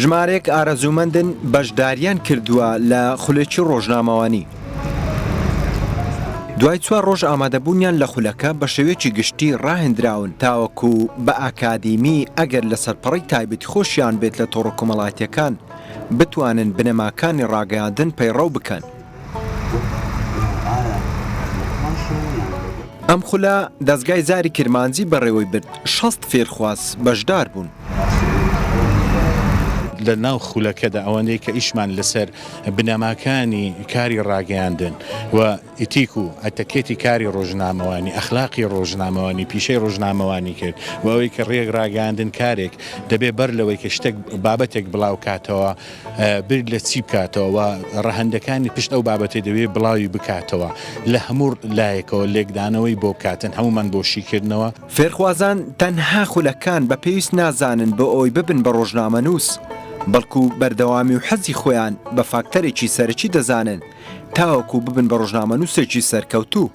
ژمارێک ئارەزوومەندن بەشداریان کردووە لە خولێکی ڕۆژنامەوانی. دوای چوار ڕۆژ ئامادەبوونیان لە خولەکە بە شێوێکی گشتی ڕاهێنراون تاوەکو بە ئاکادیمی ئەگەر لە سەرپەڕی تایبەتی خۆشیان بێت لە تۆڕە کۆمەڵاتیەکان بتوانن بنەماکانی ڕاگەیاندن پەیڕەو بکەن. ئەم خولە دەزگای زاری کرمانجی بەڕێوەی برد، شەست فێرخواز بەشدار بوون. لە ناو خولەکەدا ئەوانەی کە ئیشمان لەسەر بنەماکانی کاری ڕاگەیاندن و ئیتیک و ئەتەکێتی کاری ڕۆژنامەوانی ئەخلاقی ڕۆژنامەوانی پیشەی ڕۆژنامەوانی کرد و ئەوەی کە ڕێک ڕاگەاندن کارێک دەبێ بەر لەوەی کە شتێک بابەتێک بڵاو کاتەوە بیر لە چی بکاتەوە و ڕەهەندەکانی پشت ئەو بابەتەی دەوێت بڵاوی بکاتەوە لە هەموو لایەکەوە لێکدانەوەی بۆ بکاتن هەمومان بۆ شیکردنەوە. فێرخوازان تەنها خولەکان بە پێویست نازانن بۆ ئەوەی ببن بە ڕۆژنامەنووس، بەڵکو بەردەوامی و حەزی خۆیان بە فاکتەرێکی سەرەکی دەزانن تاوەکو ببن بە ڕۆژنامەنووسێکی سەرکەوتوو.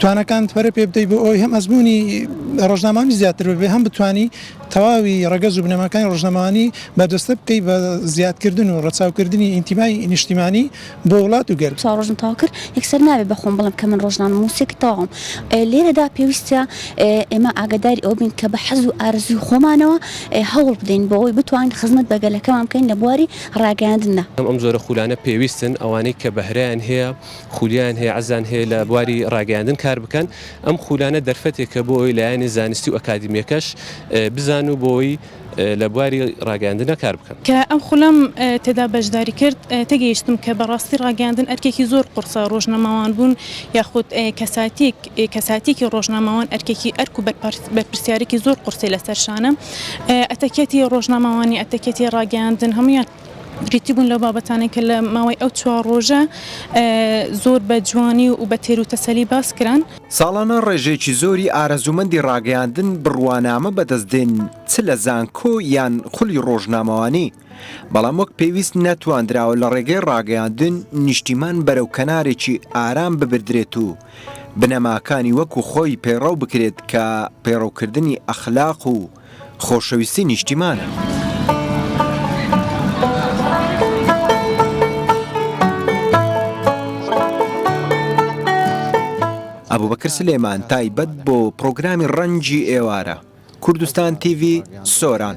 توانەکان پەرە پێ بدەیت بۆ ئەوی هەم ئەزمموی ڕۆژنامانی زیاتر بێ هەم بتانی تەواوی ڕگەز و بنەماکانی ڕژنەمانی بەدەستە بکەی بە زیادکردن و ڕەچاوکردنی ئینتیمای نیشتیمانی بۆ وڵات و گەر چا ڕۆژم تاوا کرد یەکسەر نابێ بەخۆم بڵم کە من ڕۆژنامە مووسێکی تاوم لێرەدا پێویستە ئێمە ئاگداری ئەو بین کە بە حەز و ئارزوی خۆمانەوە هەوڵ بدەین بۆ ئەوی بتوانین خزمەت بەگەلەکەمان بکەین لە بواری ڕاگەاندندا. ئەم جۆرە خولانە پێویستن ئەوانەی کە بەهرەیان هەیە. خولیان هەیە عەزان هەیە لە بواری ڕاگەیاندن کار بکەن ئەم خولانە دەرفەتێکە بۆ ئەوی لایەنی زانستی و ئەکادمیەکەش بزان و بۆی لە بواری ڕاگەاندنە کار بکەن. کە ئەم خولەم تێدا بەشداری کرد تێگەیشتم کە بەڕاستی ڕاگەیاندن ئەرکێکی زۆر قورسە ڕۆژنەماوان بوون یاخود کەساتیک کەساتیکی ڕۆژنامەوان ئەرکێکی ئەرک و بەرپرسیارێکی زۆر قورسی لەسەر شانە ئەتەکێتی ڕۆژنامەوانی ئەتەکێتی ڕاگەیاندن هەموویان بریتی بوون لەو بابەتانەی کە لە ماوەی ئەو چوار ڕۆژە زۆر بە جوانی و بە تێروتەسەلی باس کران. ساڵانە ڕێژەیەکی زۆری ئارەزوومەندی ڕاگەیاندن بڕوانامە بەدەست دێن چ لە زانکۆ یان خولی ڕۆژنامەوانی، بەڵام وەک پێویست نەتواندراوە لە ڕێگەی ڕاگەیاندن نیشتیمان بەرەو کەنارێکی ئارام ببردرێت و بنەماکانی وەکو خۆی پەیڕەو بکرێت کە پەیڕەوکردنی ئەخلاق و خۆشەویستی نیشتیمانە. ئەبوبەکر سلێمان تایبەت بۆ پڕۆگرامی ڕەنجی ئێوارە، کوردستان تیڤی، سۆران.